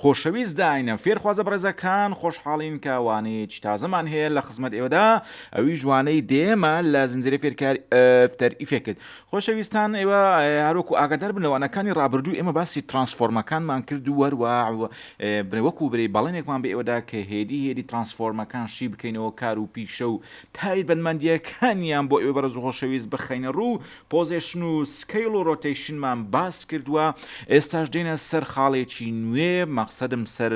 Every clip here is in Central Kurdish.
خۆشەویست داینە فێرخوازە بەڕێزەکان خۆشحاڵین کە وانەیەکی تازەمان هەیە لە خزمەت ئێوەدا ئەویش وانەی دێمە لە زنجیرە فێرکاری ئەفتەر ئیفێکت خۆشەویستان ئێوە هەروەکو ئاگادار بن لە وانەکانی ڕابردوو ئێمە باسی ترانسفۆرمەکانمان کرد و وەروا وەکو برێ بەڵێنێکمان بە ئێوەدا کە هێدی هێدی ترانسفۆرمەکان شی بکەینەوە کار و پیشە و تایبەتمەندیەکانیان بۆ ئێوە بەرز و خۆشەویست بخەینە ڕوو پۆزێشن و سکەیڵ و ڕۆتەیشنمان باس کردوە ئێستاش دێنە سەر خاڵێکی نوێ مەقسەدم سەر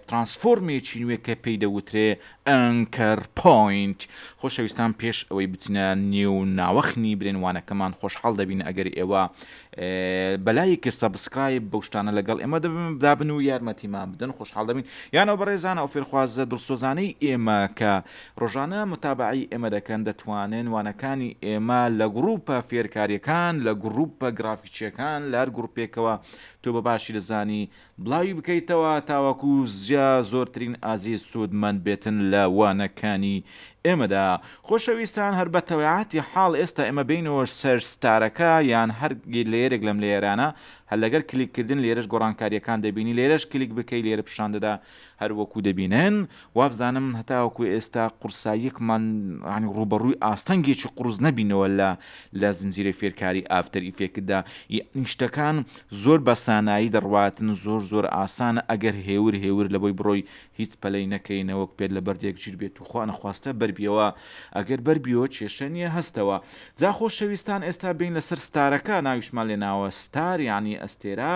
ترانسفۆرمێکی نوێ کە پێی دەوترێ ئەنکەر پۆینت خۆشەویستان پێش ئەوەی بچنە نێو ناوەخنی برێنوانەکەمان خۆشحاڵ دەبین ئەگەر ئێوە بەلای کە سەبسکرایب بەو شتانە لەگەڵ ئێمە دەبن دابن و یارمەتیمان بدەن خۆشحاڵ دەبین یانەوە بەڕێزانە ئەو فێرخوازە دڵسۆزانەی ئێمە کە ڕۆژانە متابەعەی ئێمە دەکەن دەتوانن وانەکانی ئێمە لە گڕوپە فێرکاریەکان لە گڕوپە گڕافیکیەکان لە هەر گڕوپێکەوە تۆ بە باشی دەزانی بڵاوی بکەیتەوە تاوەکو جا زۆرترین ئازیز سود مەند بێتن لە وانەکانی ئێمەدا خۆشەویستان هەر بە تەوێعاتی حاڵ ئێستا ئێمە بێینەوە سەر ستارەکە یان هەر لەیەرێک لەم لەیەرانە هەر لەگەر کلیک کردن لێرەش گۆڕانکاریەکان دەبینی لێرەش کلیک بکەی لێرە پیشان دەدا هەر وەکو دەبینن، وابزانم هەتاوەکو ئێستا قورساییەکمان یانی ڕووبەڕووی ئاستەنگێکی قوڕس نەبینەوە لە لە زنجیرەی فێرکاری ئافتەر ئیفێکتدا، یانی شتەکان زۆر بە سانایی دەڕواتن، زۆر زۆر ئاسانە ئەگەر هێور هێور لەبۆی بڕۆی هیچ پەلەی نەکەی نەوەک پێت لە بەردێک ژیر بێت و خوا نەخواستە بەر بیەوە، ئەگەر بەر بیەوە کێشە نیە هەستەوە. جا خۆشەویستان ئێستا بێین لەسەر ستارەکە ناویشمان لێناوە ستار یانی ئەستێرە،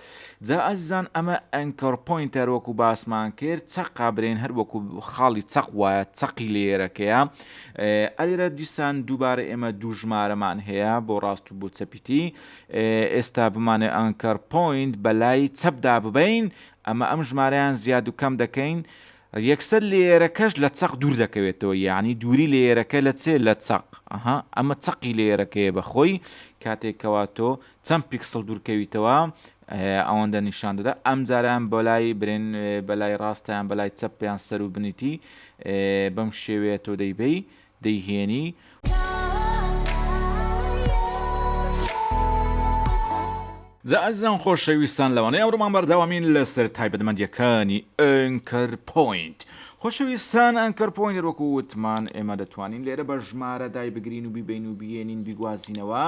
جا ئازیزان ئەمە ئەنکۆر پۆینت هەر وەکو باسمان کرد چەقا برێن هەر وەکو خاڵی چەق وایە چەقی لێیەرەکەیە ئەلێرە دیسان دووبارە ئێمە دوو ژمارەمان هەیە بۆ ڕاست و بۆ چەپیتی ئێستا بمانێ ئەنکەر پۆینت بەلای چەپدا ببین ئەمە ئەم ژمارەیان زیاد و کەم دەکەین یەکسەر لێرەکەش لە چەق دوور دەکەوێتەوە یعنی دووری لێرەکە لە چێ لە چەق ئەها ئەمە چەقی لێرەکەیە بەخۆی کاتێکەوە تۆ چەند پیکسڵ دوورکەویتەوە ئەوەندە نیشان دەدا ئەم جاریان بەلای برێن بەلای ڕاستیان بەلای چەپ پێیان سەر و بنیتی بەم شێوەیە تۆ دەیبەی دەیهێنی زەعزان خۆشەویستان لەوانەیە ئەوڕمان بەرداوامین لەسەر تایبەتمەندیەکانی ئەنکەر پوینت خۆشەویستان ئەنکەر پوینت وەکو وتمان ئێمە دەتوانین لێرە بە ژمارە دای بگرین و بیبین و بێنین بیگوازینەوە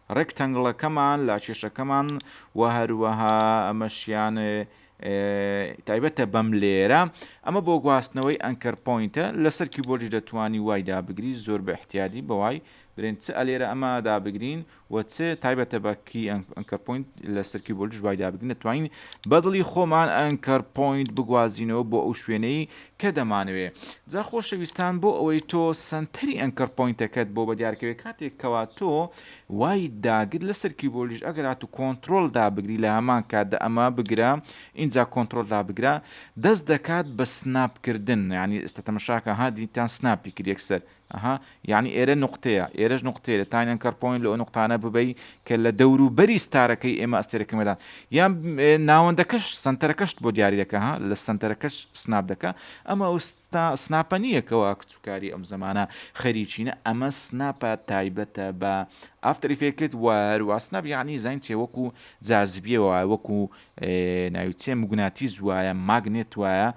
ڕێکتەنگڵەکەمان لا کێشەکەمان وە هەروەها ئەمەشیان تایبەتە بەم لێرە ئەمە بۆ گواستنەوەی ئەنکەر پۆینتە لەسەر کیبۆردیش دەتوانی وای دابگری زۆر بە احتیادی بەوای برێن چ ئەلێرە ئەمە دابگرین و چ تایبەتە بە کی ئەنکەر پۆینت لەسەر کیبۆردیش وای دابگرین دەتوانین بەدڵی خۆمان ئەنکەر پۆینت بگوازینەوە بۆ ئەو شوێنەی کە دەمانەوێ. جا خۆشەویستان بۆ ئەوەی تۆ سەنتەری ئەنکەر پۆینتەکەت بۆ بەدیارکەوێ کاتێک کەوا تۆ وایت داگرت لەسەر کیبۆردیش ئەگەر هاتو کۆنترۆل دابگری لە هەمان کاتدا ئەمە بگرە ئینجا کۆنترۆل دابگرە دەست دەکات بە سناپ کردن یانی ئێستا تەمەشاکە ها دیتان سناپی کرد یەکسەر ئەها یەعنی ئێرە نوقتەیە ئێرەش نوقتەیە لە تاینەن کەڕ پۆینت لەئەو نوقتانە ببەی کە لە دەورو بەری ستارەکەی ئێمە ئەستێرەکەی مەدان یان ناوەندەکەش سەنتەرەکەشت بۆ دیاری دەکا ها لە سەنتەرەکەش سناپ دەکا ئەمە ئەو ستا سناپە نییە کەوا کچوکاری ئەم زەمانە خەریکینە ئەمە سناپە تایبەتە بە ئافتەر ئیفێکت و هەروە سناپ یەعنی زین چێ وەکو جازبیەوە وەکو ناوی چێ مگوناتیز وایە ماگنێت وایە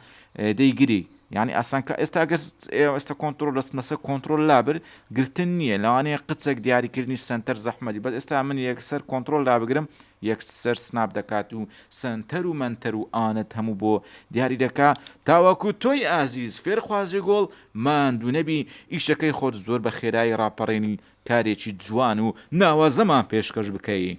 دەیگری یانی ئاسان کە ئێستا گەر ئێوە ئێستا کۆنترۆل دەستمە سەر کۆنترۆل لابر گرتن نییە لەوانەیە قچێک دیاریکردنی سەنتەر زەحمەتی بەس ئێستا من یەکسەر کۆنترۆل لابگرم یەکسەر سناپ دەکات و سەنتەر و مەنتەر و ئانەت هەموو بۆ دیاری دەکا تاوەکو تۆی ئازیز فێرخوازی گۆڵ ماندوو نەبی ئیشەکەی خۆت زۆر بە خێرایی ڕاپەڕێنی کارێکی جوان و ناوازەمان پێشکەش بکەی.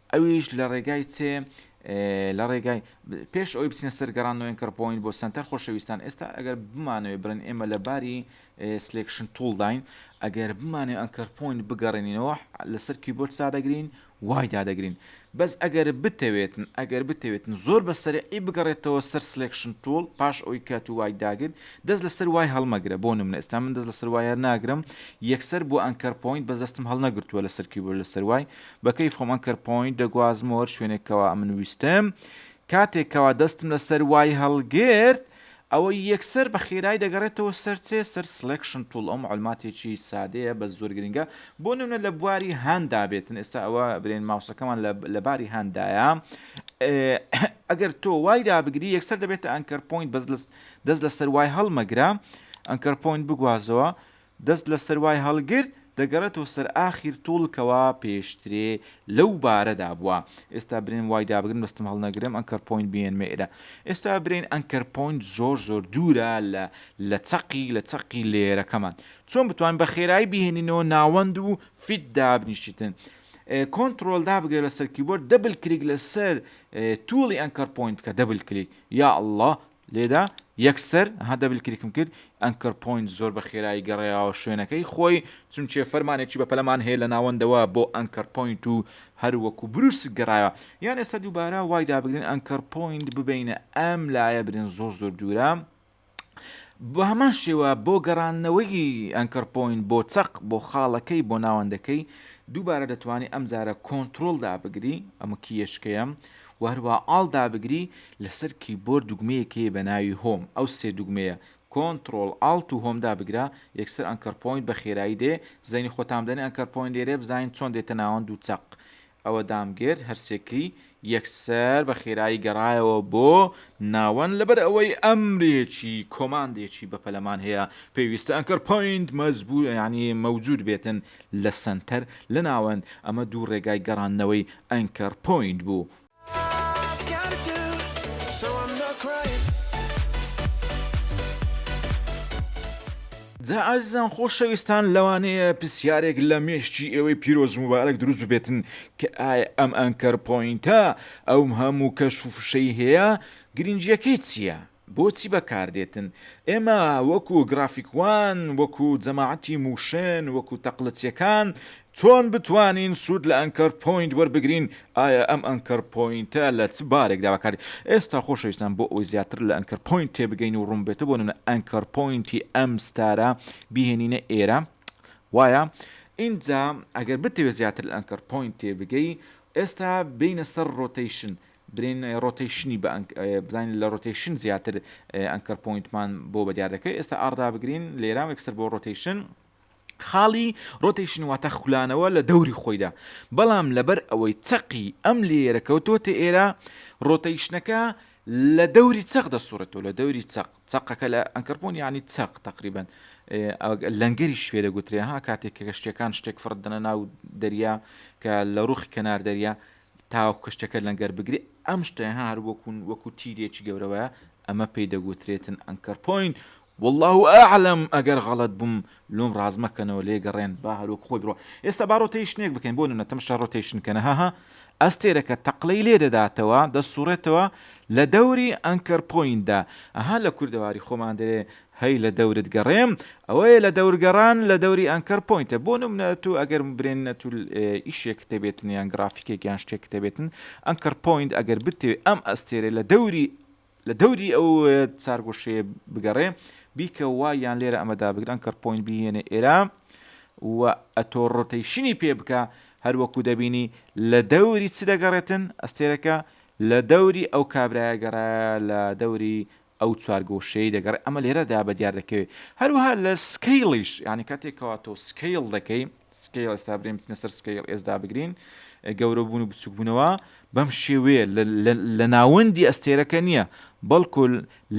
ئەویش لە ڕێگای چێ؟ لە ڕێگای پێش ئەوی بچینە سەر گەڕان نوێن کەڕپۆین بۆ سنتەر خۆشەویستان ئێستا ئەگەر بمانەوەی برن ئێمە لە باری سلێکشن توڵداین ئەگەر بمانێ ئەنکەرپۆین بگەڕێنینەوە لەسەر کیبۆرد سادەگرین وای دادەگرین بەس ئەگەر بتەوێتن ئەگەر بتەوێتن زۆر بە سەرعی بگەڕێتەوە سەر سلێکشن توڵ پاش ئەوی کات و وای داگر دەست لەسەر وای هەڵمەگرە بۆ نمنە ئێستا من دەست لەسەر وایە ناگرم یەکسەر بۆ ئەنکەرپۆین بەزەستم هەڵنەگرتووە لەسەر کیبۆرد لەسەر وای بە کەیف خۆم ئەنکەر پۆینت دەگوازمەوە هەر شوێنێک کەوا ئەمن ویستم کاتێک کەوا دەستم لەسەر وای هەڵگرت ئەوە یەکسەر بە خێرای دەگەڕێتەوە سەرچێ سەر سلێکشن توڵ ئەو معلوماتێکی سادەیە بە زۆر گرنگە بۆ نمونە لە بواری هاندا بێتن ئێستا ئەوە برێن ماوسەکەمان لە باری هاندایە ئەگەر تۆ وای دابگری یەکسەر دەبێتە ئەنکەر پۆینت بەس دەست لەسەر وای هەڵمەگرە ئەنکەر پۆینت بگوازەوە دەست لە سەر وای هەڵگرت دەگەڕێتەوە سەر ئاخیر توڵ کەوا پێشترێ لەو بارەدا بوە ئێستا برێن وای دابگرن بەستم هەڵنەگرم ئەنکەر پۆینت بێنمە ئێرە ئێستا برێن ئەنکەر پۆینت زۆر زۆر دوورە لە لە چەقی لە چەقی لێرەکەمان چۆن بتوان بە خێرایی بهێنینەوە ناوەند و فیت دابنیشتن کۆنتترۆل دابگرێت لەسەر کیبۆرد دەبل کلیک لەسەر توڵی ئەنکەر پۆینت کە دەبل کلیک یا الله لێدا یەکسەر ها دەبل کلیکم کرد ئەنکەر پۆینت زۆر بە خێرایی گەڕێیاوە شوێنەکەی خۆی چونچێ فەرمانێکی بەپەلەمان هەیە لە ناوەندەوە بۆ ئەنکەر پۆینت و هەر وەکو بروسک گەڕایە یان ئێستا دووبارە وای دابگرن ئەنکەر پۆینت ببینە ئەم لایە برێن زۆر زۆر دوورە بە هەمان شێوە بۆ گەڕانەوەی ئەنکەر پۆین بۆ چەق بۆ خاڵەکەی بۆ ناوەندەکەی دووبارە دەتوانانی ئەم جارە کۆنتترۆلدا بگری ئەمە کیشکەیەم وهروە ئاڵدا بگری لەسەر کیبۆرد دوگمەیەک هەیە بە ناوی Home ئەو سێ دوگمەیە Control Alt و Home دابگرە یەکسەر Anchor Point بە خێرایی دێ زەینی خۆتان بدەنێ Anchor Point لێرەیە بزانین چۆن دێتە ناوەند و چەق ئەوە دامگرت هەر سێ کلی یەکسەر بە خێرایی گەڕایەوە بۆ ناوەند لەبەر ئەوەی ئەمرێکی کۆماندێکی بەپەلەمان هەیە پێویستە Anchor Point مەجبور یانی مەوجود بێتن لە سەنتەر لە ناوەند ئەمە دوو ڕێگای گەڕاندنەوەی Anchor Point بوو جا ئازیزان خۆشەویستان لەوانەیە پرسیارێک لە مێشکی ئێوەی پیرۆز مبارەک دروست ببێتن کە ئایا ئەم ئەنکەر پۆینتە ئەوم هەموو کەش و فشەی هەیە گرنگیەکەی چییە؟ بۆچی بەکاردێتن؟ ئێمە وەکو گرافیکوان، وەکو جەماعەتی موشن، وەکو تەقلچیەکان چۆن بتوانین سود لە ئەنکەر پۆینت وەربگرین؟ ئایا ئەم ئەنکەر پۆینتە لە چ بارێکدا بەکاردێت؟ ئێستا خۆشەویستان بۆ ئەوەی زیاتر لە ئەنکەر پۆینت تێبگەین و ڕونبێتە بۆ نمونە ئەنکەر پۆینتی ئەم ستارە بیهێنینە ئێرە وایە؟ ئینجا ئەگەر بتەوێت زیاتر لە ئەنکەر پۆینت تێبگەی ئێستا بێینە سەر ڕۆتەیشن برین ڕۆتەیشنی بە ئەنک بزانین لە ڕۆتەیشن زیاتر ئەنکەر پۆینتمان بۆ بەدیار دەکەی ئێستا ئاڕدا بگرین لێرا وەکسەر بۆ ڕۆتەیشن خاڵی ڕۆتەیشن واتە خولانەوە لە دەوری خۆیدا بەڵام لەبەر ئەوەی چەقی ئەم لێرە کەوتۆتە ئێرە ڕۆتەیشنەکە لە دەوری چەق دەسوڕێتەوە لە دەوری چەق چەقەکە لە ئەنکەرپۆن ینی چەق تقریبن لەنگەری شوێ دەگوترێ ها کاتێک کە شتەکان شتێک فڕدنە ناو دەریا کە لە ڕوخی کەنار دەریا تاوەکو کەشتیەکە لەنگەر بگرێ ئەم شتە ها هەر وەکو وەکو تیرێکی گەورە وایە ئەمە پێی دەگوترێتن ئەنکەر پۆین والله ئەعلم ئەگەر غەڵەت بووم لۆم ڕاست مەکەنەوە لێ گەڕێن با هەر وەکو خۆی بڕۆ ئێستا با ڕۆتەیشنێک بکەین بۆ نمونە تەمشا ڕۆتەیشن کەنە ها ها ئەستێرەکە تەقلەی لێ دەداتەوە دەسوڕێتەوە لە دەوری ئەنکەر پۆیندا ئەها لە کوردەواری خۆمان دەرێ هەی لە دەورت گەڕێم ئەوەیە لە دەور گەڕان لە دەوری ئەنکەر پۆینتە بۆ نمونە تۆ ئەگەر برێننە تول ئیشێکت هەبێتن یان گرافیکێک یان شتێکت هەبێتن ئەنکەر پۆینت ئەگەر بتەوێت ئەم ئەستێرە لە دەوری لە دەوری ئەو چارگۆشەیە بگەڕێ بیکە وا یان لێرە ئەمەدا بگرن ئەنکەر پۆینت بهێنێ ئێرە و ئەتۆ ڕۆتەیشنی پێ بکە هەروەکو دەبینی لە دەوری چ دەگەڕێتن ئەستێرەکە لە دەوری ئەو کابرایە گەڕایە لە دەوری ئەو چوارگۆشەیەی دەگەڕێ ئەمە لێرەدا بە دیار دەکەوێ هەروەها لە سکەیڵیش یانی کاتێک کەوا تۆ سکەیڵ دەکەی سکەیڵ ئێستا برێن بچنە سەر سکەیڵ ئێسدا بگرین گەورە بوون و بچوک بوونەوە بەم شێوەیە لە ناوەندی ئەستێرەکە نییە بەڵکو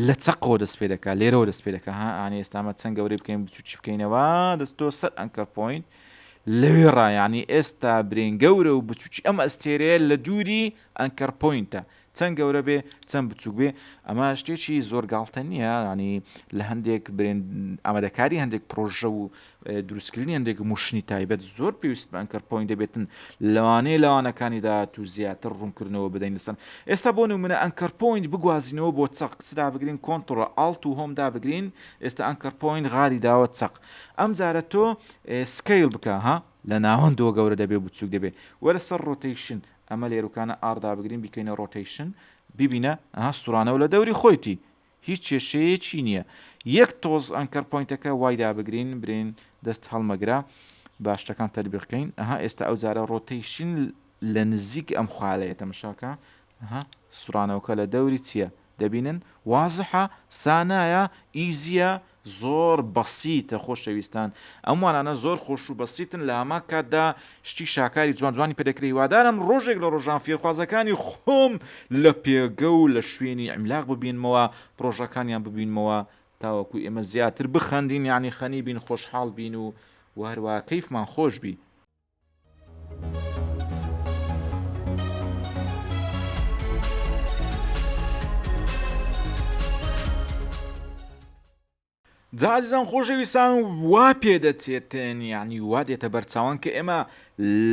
لە چەقۆ دەست پێ دەکات لێرەوە دەست پێ دەکە ها ئانی ئێستامە چەند گەورەی بکەین بچوکی بکەینەوە دەستۆ سەر ئەنکەر پوین لەوێ ڕایانی ئێستا برێن گەورە و بچوکی ئەم ئەستێرەیە لە دووری ئەنکەر پوینتە چەند گەورە بێ چەند بچوک بێ ئەمە شتێکی زۆر گاڵتە نییە ینی لە هەندێک برێن ئامادەکاری هەندێک پرۆژە و دروستکردنی هەندێک موشنی تایبەت زۆر پێویست بە ئەنکەر پوین دەبێتن لەوانەیە لەوانەکانی داات و زیاتر ڕوونکردنەوە بدەین لەسەر ئێستا بۆ نمونە ئەنکەر پوین بگوازینەوە بۆ چەق کچدا بگرین کۆنتڕۆ ئاڵت و هۆمدا بگرین ئێستا ئەنکەر پوین غاری داوە چەق ئەم جارە تۆ سکیل بکە ها لە ناوەندەوە گەورە دەبێ بچوک دەبێ وەرە سەر ڕۆتیشن ئەمە لێروکانە ئاڕ دابگرین بیکەینە ڕۆتەیشن بیبینە ئەها ستورانەوە لە دەوری خۆیتی هیچ کێشەیەکی نییە یەک تۆز ئەنکەر پۆینتەکە وای دابگرین برین دەست هەڵمەگرە با شتەکان تەربیقکەین ئەها ئێستا ئەو جارە ڕۆتەیشن لە نزیک ئەم خوالەیە تەمەشاکە ئەها سورانەوەکە لە دەوری چییە دەبینن وازحە سانایە ئیزیە زۆر بەسیتە خۆشەویستان ئەم وانانە زۆر خۆش و بەسیتن لە هەمان کاتدا شتی شاکاری جوان جوانی پێ دەکرێ هیوادارم ڕۆژێک لە ڕۆژان فێرخوازەکانی خۆم لە پێگە و لە شوێنی ئیملاق ببینمەوە پڕۆژەکانیان ببینمەوە تاوەکو ئێمە زیاتر بخەندین یانی خەنی بین خۆشحاڵ بین و و هەروەها کەیفمان خۆش بی. جازیزان خۆشەویستان وا پێدەچێتێن یعنی وا دێتە بەرچاوان کە ئێمە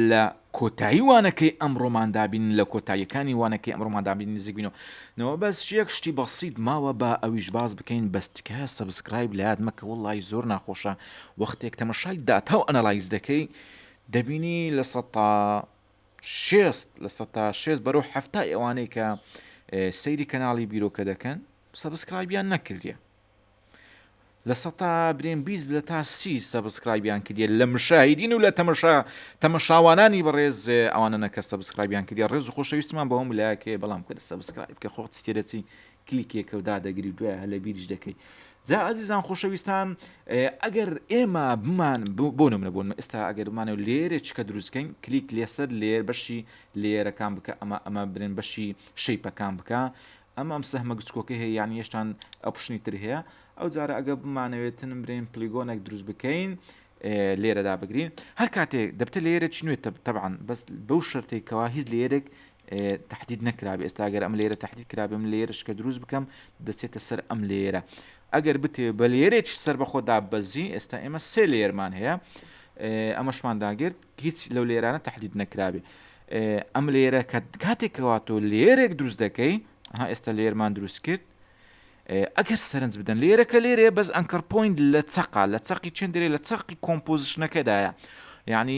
لە کۆتایی وانەکەی ئەم ڕۆماندابین لە کۆتاییەکانی وانەکەی ئەم ڕۆماندابین نزیکبینەوە نەوە بەس یەک شتی بەسییت ماوە بە ئەویش باز بکەین بەستکە سەبسکرایب لات مەکە وڵی زۆر ناخۆشە وەختێک تەمەشای داتا و ئەنالایز دەکەی دەبینی لە سە تا شێست لە سە تا شێست بەرەو حەفتای ئەوانەی کە سەیری کەناڵی بیرۆکە دەکەن سەبسکرایبیان نەکردە لە سە تا برێن بیست لە تا سی سەبسکرایبیان کردە لە مشاهیدین و لە تەمەشا تەمەشاوانانی بەڕێز ئەوانە نەکە سەبسکرایبیان کردە ڕێز و خۆشەویستمان بەوەم لاکێ بەڵام کە سەبسکرایب کە خۆت تێدەچی کلیکێکەو دادەگری و دوای هەر لە بیریش دەکەی جا ئازیزان خۆشەویستان ئەگەر ئێمە بمان بۆ نمرە بۆن ئێستا ئەگەر بمانە لێرە چکە دروستکەین کلیک لێسەر لێر بەشی لێرەکان بکە ئەمە ئەمە برێن بەشی شەیپەکان بکە ئەمە ئەم سەهمە گچکۆکە هەیە یان یشتان ئەپشنی تر هەیە ئەو جارە ئەگە بمانەوێتن برێن پلیگۆنێک دروست بکەین لێرەدا بگرین هەر کاتێک دەبتە لێرە چنوێت تەبان بەس بەو شەرتێکەوە هیچ لێرێک تەحدید نەکرابێ ئێستا ئەگەر ئەم لێرە تەحدید کرابێ من لێرە شکە دروست بکەم دەچێتە سەر ئەم لێرە ئەگەر بتێ بە لێرێک سەر بە خۆدا بەزی ئێستا ئێمە سێ لێرمان هەیە ئەمەشمان داگرت هیچ لەو لێرانە تەحدید نەکرابێ ئەم لێرە کە کاتێکەوە تۆ لێرێک دروست دەکەی ها ئێستا لێرمان دروست کرد ئەگەر سەرنج بدەن لێرەکە لێرێ بەس ئەنکەر پوین لە چقا لە چقی چندێ لە چقی کۆمپۆزیشنەکەدایە یعنی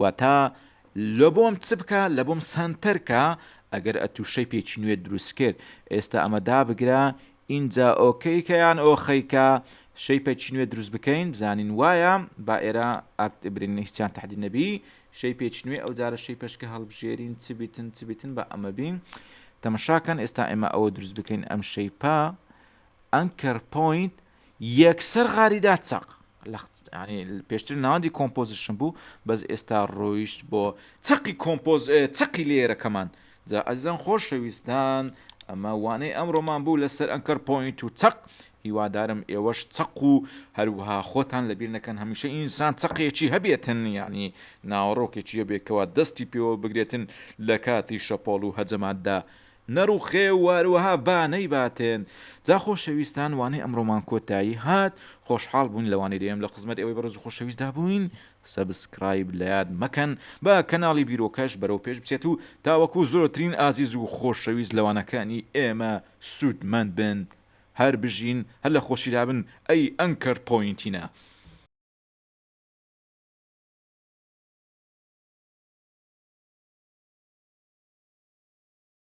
واتا لەبۆم چ بکە لەبۆم سەنتەر کە ئەگەر ئەتوو شەیپێکی نوێت دروست کرد ئێستا ئەمە دابگرە ئینجا ئۆکەی کە یان ئۆخەی کە شەیپێکی نوێ دروست بکەین بزانین وایە با ئێرە ئاکت برین هیچیان تحدید نەبی شەیپێکی نوێ ئەو جارە شەیپەشکە هەڵبژێرین چ بیتن چ بیتن بە ئەمە بین تەمەشاکەن ئێستا ئێمە ئەوە دروست بکەین ئەم شەیپە ئەنکەر پوینت یەکسەر غاری دا چەق لەخت یانی پێشتر ناوەندی کۆمپۆزیشن بوو بەس ئێستا ڕۆیشت بۆ چەقی کۆمپۆز چەقی لێرەکەمان جا ئەزان خۆشەویستان ئەمە وانەی ئەمڕۆمان بوو لەسەر ئەنکەر پۆینت و چەق هیوادارم ئێوەش چەق و هەروها خۆتان لەبیر نەکەن هەمیشە ئینسان چەقێکی هەبێتن ینی ناوەڕۆکێکی هەبێکەوە دەستی پێوە بگرێتن لە کاتی شەپۆڵ و هەجەماتدا نەڕوخێ و وەروەها با نەیباتێن. جا خۆشەویستان وانەی ئەمڕۆمان کۆتایی هات خۆشحاڵ بووین لەوانەی دەیەم لە خزمەت ئێوەی بەڕێز و خۆشەویستدا بووین سەبسکرایب لەیاد مەکەن با کەناڵی بیرۆکەش بەرەو پێش بچێت و تاوەکو زۆرترین ئازیز و خۆشەویست لە وانەکانی ئێمە سوود مەند بن هەر بژین هەر لە خۆشیدا بن ئەی ئەنکەر پۆینتینە